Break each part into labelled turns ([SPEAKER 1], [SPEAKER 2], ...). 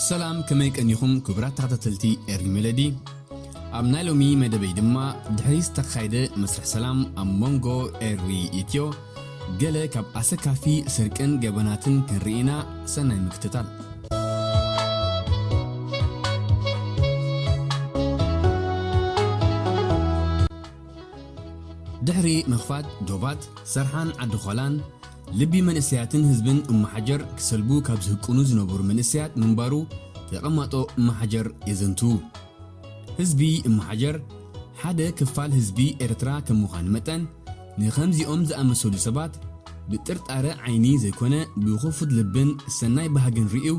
[SPEAKER 1] ሰላም ከመይ ቀኒኹም ክቡራት ተኸታተልቲ ኤሪ ሜሎዲ ኣብ ናይ ሎሚ መደበይ ድማ ድሕሪ ዝተኻየደ መስርሕ ሰላም ኣብ መንጎ ኤሪ ኢትዮ ገለ ካብ ኣሰካፊ ስርቅን ገበናትን ክንርኢ ኢና ሰናይ ምክትታል። ድሕሪ ምኽፋት ዶባት ሰርሓን ዓዲ ዃላን፣ ልቢ መንእሰያትን ህዝብን እምሓጀር ክሰልቡ ካብ ዝህቅኑ ዝነበሩ መንእሰያት ምንባሩ ተቐማጦ እምሓጀር የዘንትዉ። ህዝቢ እመሓጀር ሓደ ክፋል ህዝቢ ኤርትራ ከም ምዃኑ መጠን፣ ንኸምዚኦም ዝኣመሰሉ ሰባት ብጥርጣረ ዓይኒ ዘይኮነ ብኽፉት ልብን ሰናይ ባህግን ርእዩ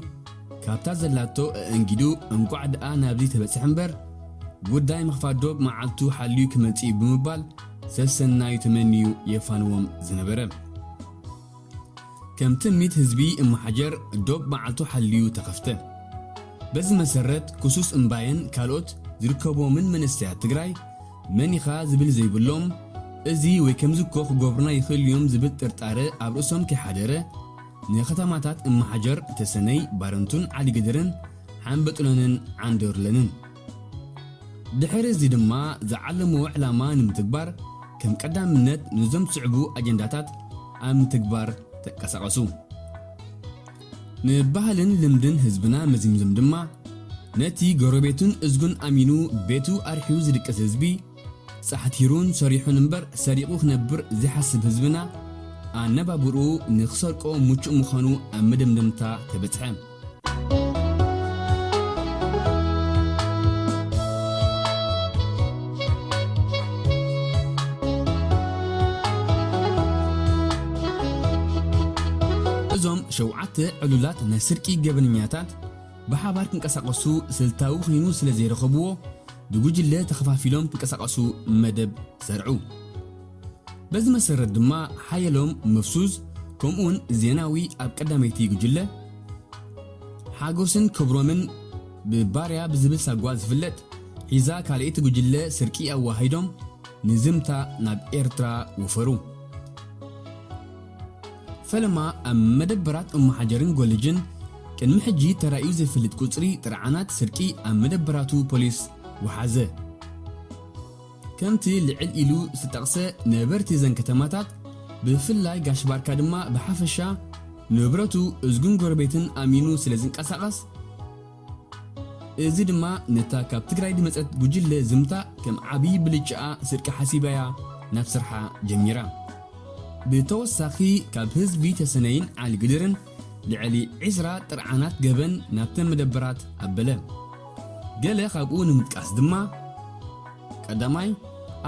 [SPEAKER 1] ካብታ ዘላቶ ኣእንጊዱ እንቋዕ ደኣ ናብዚ ተበጽሐ እምበር ጉዳይ ምኽፋት ዶብ መዓልቱ ሓልዩ ክመጽእ'ዩ ብምባል ሰሰናዩ ተመንዩ የፋንዎም ዝነበረ ከም ትምኒት ህዝቢ እምሓጀር ዶብ መዓልቱ ሓልዩ ተኸፍተ። በዚ መሰረት ክሱስ እምባየን ካልኦት ዝርከቡዎምን መንእሰያት ትግራይ መን ኢኻ ዝብል ዘይብሎም እዚ ወይ ከምዚ እኮ ክገብሩና ይኽእሉ እዮም ዝብል ጥርጣረ ኣብ ርእሶም ከይሓደረ ንከተማታት እምሓጀር ተሰነይ፣ ባረንቱን ዓዲግድርን ሓምበጡለንን ዓንደሩለንን። ድሕሪ እዚ ድማ ዝዓለምዎ ዕላማ ንምትግባር ከም ቀዳምነት ነዞም ዝስዕቡ ኣጀንዳታት ኣብ ምትግባር ተንቀሳቐሱ። ንባህልን ልምድን ህዝብና መዚምዞም ድማ ነቲ ጎረቤቱን እዝጉን ኣሚኑ ቤቱ ኣርሕዩ ዝድቅስ ህዝቢ፣ ጻሕቲሩን ሰሪሑን እምበር ሰሪቑ ክነብር ዘይሓስብ ህዝብና ኣነባብርኡ ንኽሰርቆ ምቹእ ምዃኑ ኣብ መደምደምታ ተበጽሐ። እዞም ሸውዓተ ዕሉላት ናይ ስርቂ ገበነኛታት ብሓባር ክንቀሳቐሱ ስልታዊ ኮይኑ ስለ ዘይረኸብዎ ብጉጅለ ተኸፋፊሎም ክንቀሳቐሱ መደብ ዘርዑ። በዚ መሰረት ድማ ሓየሎም መፍሱዝ ከምኡውን ዜናዊ ኣብ ቀዳመይቲ ጉጅለ፣ ሓጎስን ክብሮምን ብባርያ ብዝብል ሳጓ ዝፍለጥ ሒዛ ካልኣይቲ ጉጅለ ስርቂ ኣዋሃሂዶም ንዝምታ ናብ ኤርትራ ወፈሩ። ፈለማ ኣብ መደበራት እምሓጀርን ጎልጅን ቅድሚ ሕጂ ተራእዩ ዘይፈልጥ ቁጽሪ ጥርዓናት ስርቂ ኣብ መደበራቱ ፖሊስ ወሓዘ። ከምቲ ልዕል ኢሉ ዝተጠቕሰ ነበርቲ እዘን ከተማታት ብፍላይ ጋሽ ባርካ ድማ ብሓፈሻ ንብረቱ እዝጉን ጎረቤትን ኣሚኑ ስለ ዝንቀሳቐስ እዚ ድማ ነታ ካብ ትግራይ ዝመፀት ጉጅለ ዝምታ ከም ዓብዪ ብልጭኣ ስርቂ ሓሲባ'ያ ናብ ስርሓ ጀሚራ። ብተወሳኺ ካብ ህዝቢ ተሰነይን ዓሊግድርን ልዕሊ ዕስራ ጥርዓናት ገበን ናብተን መደበራት ኣበለ። ገለ ካብኡ ንምጥቃስ ድማ፣ ቀዳማይ፣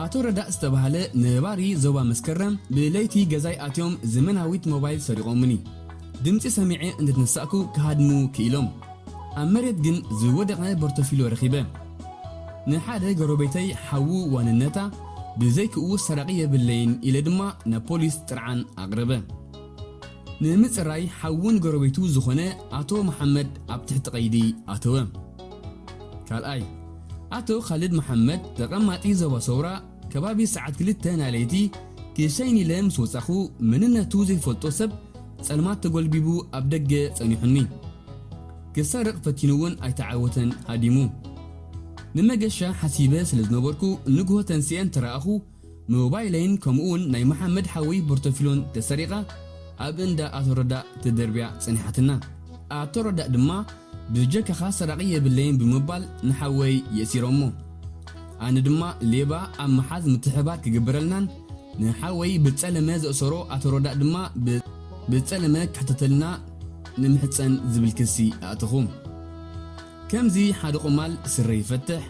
[SPEAKER 1] ኣቶ ረዳእ ዝተባህለ ነባሪ ዞባ መስከረም ብለይቲ ገዛይ ኣትዮም ዘመናዊት ሞባይል ሰሪቖሙኒ። ድምጺ ሰሚዐ እንተተነሳእኩ ክሃድሙ ክኢሎም። ኣብ መሬት ግን ዝወደቐ ቦርቶፊሎ ረኺበ። ንሓደ ጎረቤተይ ሓዉ ዋንነታ ብዘይክኡ ሰራቒ የብለይን ኢለ ድማ ናብ ፖሊስ ጥርዓን ኣቕረበ። ንምጽራይ ሓውን ጎረቤቱ ዝኾነ ኣቶ መሓመድ ኣብ ትሕቲ ቀይዲ ኣተወ። ካልኣይ፣ ኣቶ ኻልድ መሓመድ ተቐማጢ ዞባ ሰውራ ከባቢ ሰዓት ክልተ ናይ ለይቲ ክሸይን ኢለ ምስ ወጻኹ መንነቱ ዘይፈልጦ ሰብ ጸልማት ተጎልቢቡ ኣብ ደገ ጸኒሑኒ። ክሰርቕ ፈቲኑ'ውን ኣይተዓወተን ሃዲሙ። ንመገሻ ሓሲበ ስለ ዝነበርኩ ንግሆ ተንሲኤ እንተረኣኹ ሞባይለይን ከምኡ ውን ናይ መሓመድ ሓወይ ቦርተፊሎን ተሰሪቓ ኣብ እንዳ ኣቶ ረዳእ ተደርብያ ጸኒሓትና። ኣቶ ረዳእ ድማ ብጀካኻ ሰራቒ የብለይን ብምባል ንሓወይ የእሲሮሞ። ኣነ ድማ ሌባ ኣብ ምሓዝ ምትሕብባር ክግበረልናን ንሓወይ ብጸለመ ዘእሰሮ ኣቶ ረዳእ ድማ ብጸለመ ክሕተተልና ንምሕጸን ዝብል ክሲ ኣእተኹ። ከምዚ ሓደ ቁማል ስረ ይፈትሕ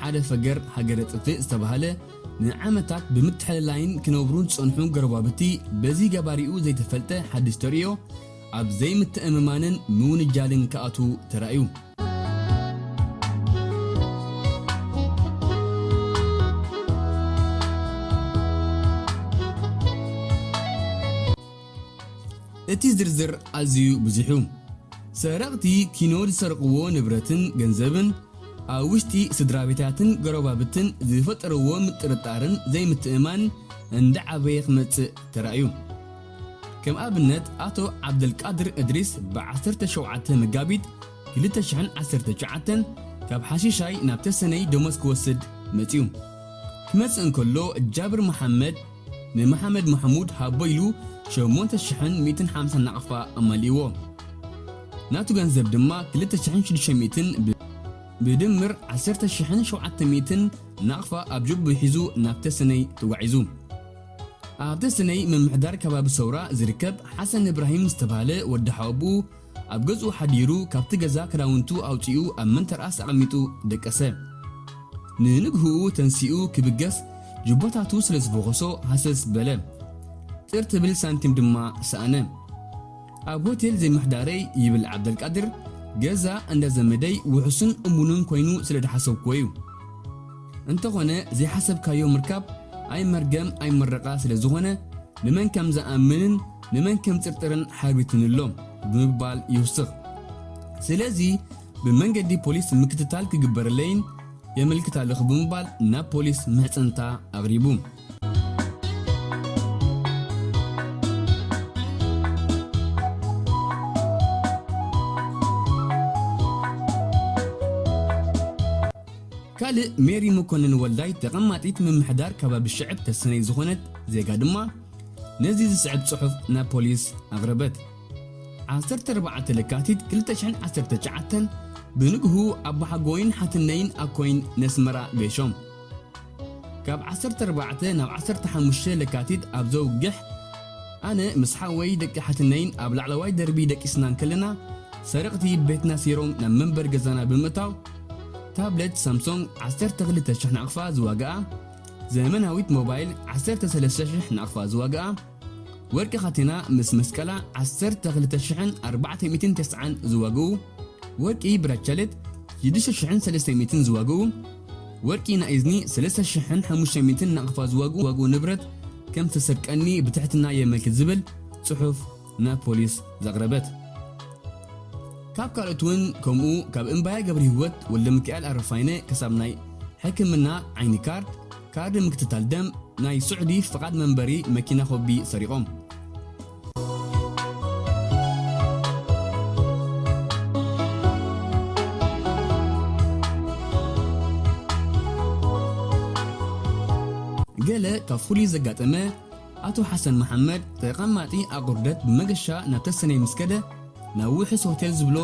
[SPEAKER 1] ሓደ ፈገር ሃገረ ጥፍእ ዝተባህለ ንዓመታት ብምትሕልላይን ክነብሩን ዝጸንሑ ጎረባብቲ በዚ ገባሪኡ ዘይተፈልጠ ሓድሽ ተርእዮ ኣብ ዘይምትእምማንን ምውንጃልን ክኣትዉ ተራእዩ። እቲ ዝርዝር ኣዝዩ ብዙሕ'ዩ። ሰረቕቲ ኪኖ ዝሰርቕዎ ንብረትን ገንዘብን፣ ኣብ ውሽጢ ስድራቤታትን ጎረባብትን ዝፈጠርዎ ምጥርጣርን ዘይምትእምማን እንዳዓበየ ክመጽእ ተራእዩ። ከም ኣብነት ኣቶ ዓብደልቃድር እድሪስ ብ ዓሰርተ ሸውዓተ መጋቢት ክልተ ሽሕን ዓሰርተ ትሽዓተን ካብ ሓሺሻይ ናብ ተሰነይ ደሞዝ ክወስድ መጺኡ ክመጽእ እንከሎ ጃብር መሓመድ ንመሓመድ ማሕሙድ ሃቦ ኢሉ ሸሞንተ ሽሕን ሚእትን ሓምሳን ናቕፋ ኣማሊእዎ። ናቱ ገንዘብ ድማ ክልተ ሽሕን ሽዱሽተ ሚእትን ብ ብድምር ዓሰርተ ሽሕን ሸውዓተ ሚእትን ናቕፋ ኣብ ጀብኡ ሒዙ ናብ ተሰነይ ተጓዒዙ። ኣብ ተሰነይ ምምሕዳር ከባቢ ሰውራ ዝርከብ ሓሰን እብራሂም ዝተባህለ ወዲ ሓወብኡ፣ ኣብ ገዝኡ ሓዲሩ ካብቲ ገዛ ክዳውንቱ ኣውጺኡ ኣብ መንተርኣስ ኣቐሚጡ ደቀሰ። ንንግሁኡ ተንሲኡ ክብገስ ጁባታቱ ስለ ዝፈኾሶ ሃሰስ በለ። ጥር ትብል ሳንቲም ድማ ሰኣነ። ኣብ ሆቴል ዘይምሕዳረይ ይብል ዓብደልቃድር ገዛ እንዳ ዘመደይ ውሑስን እሙንን ኮይኑ ስለ ድሓሰብኩዎ'ዩ። እንተኾነ ዘይሓሰብካዮ ምርካብ ኣይ መርገም ኣይ ምረቓ ስለ ዝኾነ ንመን ከም ዝኣምንን፣ ንመን ከም ጽርጥርን ሓቢቱን ኣሎ ብምባል ይውስኽ። ስለዚ ብመንገዲ ፖሊስ ምክትታል ክግበረለይን የመልክት ኣለኹ ብምባል ናብ ፖሊስ ምሕጽንታ ኣቕሪቡ። ካልእ ሜሪ መኮነን ወልዳይ ተቐማጢት ምምሕዳር ከባቢ ሽዕብ ተሰነይ ዝኾነት ዜጋ ድማ፣ ነዚ ዝስዕብ ጽሑፍ ናብ ፖሊስ ኣቕረበት። ዓሰርተ ኣርባዕተ ለካቲት ክልተ ሽሕን ዓሰርተ ትሽዓተን ብንግሁ ኣቦሓጎይን ሓትነይን ኣኮይን ነስመራ ገሾም። ካብ ዓሰርተ ኣርባዕተ ናብ ዓሰርተ ሓሙሽተ ለካቲት ኣብ ዘውግሕ ኣነ ምስ ሓወይ ደቂ ሓትነይን ኣብ ላዕለዋይ ደርቢ ደቂስና እንከለና ሰረቕቲ ቤትና ሲሮም ናብ መንበሪ ገዛና ብምእታው ታብለት ሳምሶንግ ዓሰርተ ክልተ ሽሕ ናቕፋ ዝዋጋኣ ዘመናዊት ሞባይል ዓሰርተ ሰለስተ ሽሕ ናቕፋ ዝዋግኣ ወርቂ ካቴና ምስ መስቀላ ዓሰርተ ክልተ ሽሕን ኣርባዕተ ሚእትን ተስዓን ዝዋግኡ ወርቂ ብራቻሌት ሽዱሽተ ሽሕን ሰለስተ ሚእትን ዝዋግኡ ወርቂ ናይ እዝኒ ሰለስተ ሽሕን ሓሙሽተ ሚእትን ናቕፋ ዝዋግኡ ንብረት ከም ዝተሰርቀኒ ብትሕትና የመልክት ዝብል ጽሑፍ ናብ ፖሊስ ዘቕረበት። ካብ ካልኦት እውን ከምኡ ካብ እምባየ ገብርሂወት ወልደሚካኤል ኣረፋይነ ክሳብ ናይ ሕክምና ዓይኒ ካርድ፣ ካርዲ ምክትታል ደም፣ ናይ ስዑዲ ፍቓድ መንበሪ መኪና ኮቢ ሰሪቖም። ገለ ካብ ፍሉይ ዘጋጠመ ኣቶ ሓሰን መሓመድ ተቐማጢ ኣቑርደት ብመገሻ ናብ ተሰነይ ምስ ከደ ናብ ውሑስ ሆቴል ዝብሎ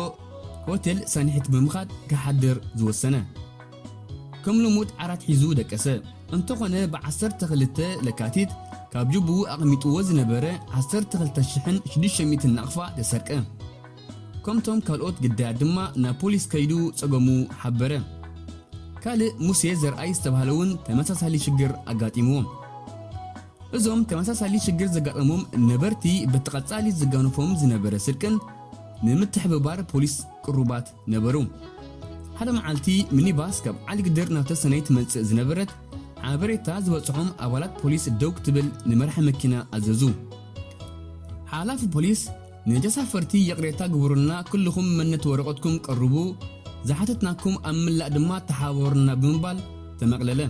[SPEAKER 1] ሆቴል ሳንሒት ብምኻድ ክሓድር ዝወሰነ። ከም ልሙድ ዓራት ሒዙ ደቀሰ። እንተኾነ ብ ዓሰርተ ክልተ ለካቲት ካብ ጁቡኡ ኣቐሚጥዎ ዝነበረ ዓሰርተ ክልተ ሽሕን ሽዱሽተ ሚእትን ናቕፋ ተሰርቀ። ከምቶም ካልኦት ግዳያት ድማ ናብ ፖሊስ ከይዱ ጸገሙ ሓበረ። ካልእ ሙሴ ዘርኣይ ዝተባህለ እውን ተመሳሳሊ ሽግር ኣጋጢምዎ። እዞም ተመሳሳሊ ሽግር ዘጋጠሞም ነበርቲ በቲ ቀጻሊ ዝጋነፎም ዝነበረ ስርቅን ንምትሕብባር ፖሊስ ቅሩባት ነበሩ። ሓደ መዓልቲ ሚኒባስ ካብ ዓሊግድር ናብ ተሰነይ ትመጽእ ዝነበረት ሓበሬታ ዝበጽሖም ኣባላት ፖሊስ ደው ክትብል ንመራሒ መኪና ኣዘዙ። ሓላፊ ፖሊስ ንተሳፈርቲ ይቕሬታ ግቡሩልና ኩሉኹም መነት ወረቐትኩም ቀሩቡ ዝሓተትናኩም ኣብ ምላእ ድማ ተሓባበሩና ብምባል ተመቕለለ።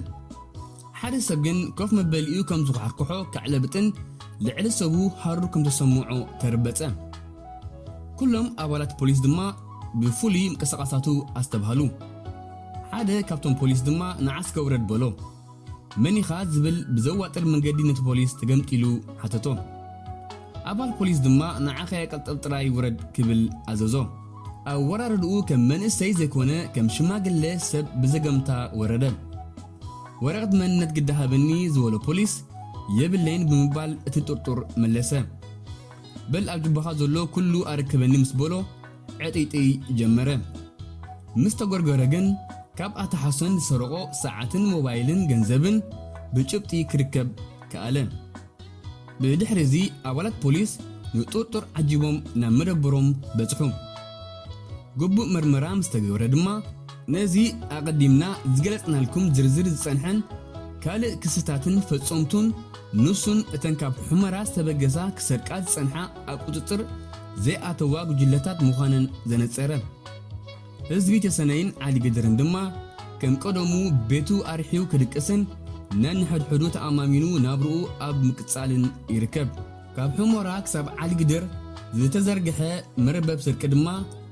[SPEAKER 1] ሓደ ሰብ ግን ኮፍ መበሊኡ ከም ዝኳሕርኩሖ ከዕለብጥን ልዕሊ ሰቡ ሃሩር ከም ተሰምዖ ተርበጸ። ኩሎም ኣባላት ፖሊስ ድማ ብፍሉይ ምቅስቓሳቱ ኣስተብሃሉ። ሓደ ካብቶም ፖሊስ ድማ ንዓስከ ውረድ በሎ። መን ኢኻ? ዝብል ብዘዋጥር መንገዲ ነቲ ፖሊስ ተገምጢሉ ሓተቶ። ኣባል ፖሊስ ድማ ንዓኸ ቅልጥብ ጥራይ ውረድ ክብል ኣዘዞ። ኣወራርድኡ ከም መንእሰይ ዘይኮነ ከም ሽማግለ ሰብ ብዘገምታ ወረደ። ወረቕት መንነት ግዳ ሃበኒ ዝበሎ ፖሊስ የብለይን ብምባል እቲ ጥርጡር መለሰ። በል ኣብ ጁባኻ ዘሎ ኩሉ ኣረክበኒ ምስ በሎ፣ ዕጥይጥይ ጀመረ። ምስ ተጎርጎረ ግን ካብ ኣቶ ሓሶን ዝሰረቖ ሰዓትን ሞባይልን ገንዘብን ብጭብጢ ክርከብ ከኣለ። ብድሕሪ እዚ ኣባላት ፖሊስ ንጥርጡር ዓጂቦም ናብ መደበሮም በጽሑ። ግቡእ መርመራ ምስ ተገብረ ድማ፣ ነዚ ኣቐዲምና ዝገለጽናልኩም ዝርዝር ዝጸንሐን ካልእ ክስታትን ፈጸምቱን ንሱን እተን ካብ ሑመራ ዝተበገሳ ክሰርቃ ዝጸንሓ ኣብ ቁጽጽር ዘይኣተዋ ጉጅለታት ምዃነን ዘነጸረ ህዝቢ ተሰነይን ዓዲግድርን ድማ ከም ቀደሙ ቤቱ ኣርሕዩ ክድቅስን ነንሕድሕዱ ተኣማሚኑ ናብርኡ ኣብ ምቅጻልን ይርከብ። ካብ ሑሞራ ክሳብ ዓዲግድር ዝተዘርግሐ መርበብ ስርቂ ድማ፣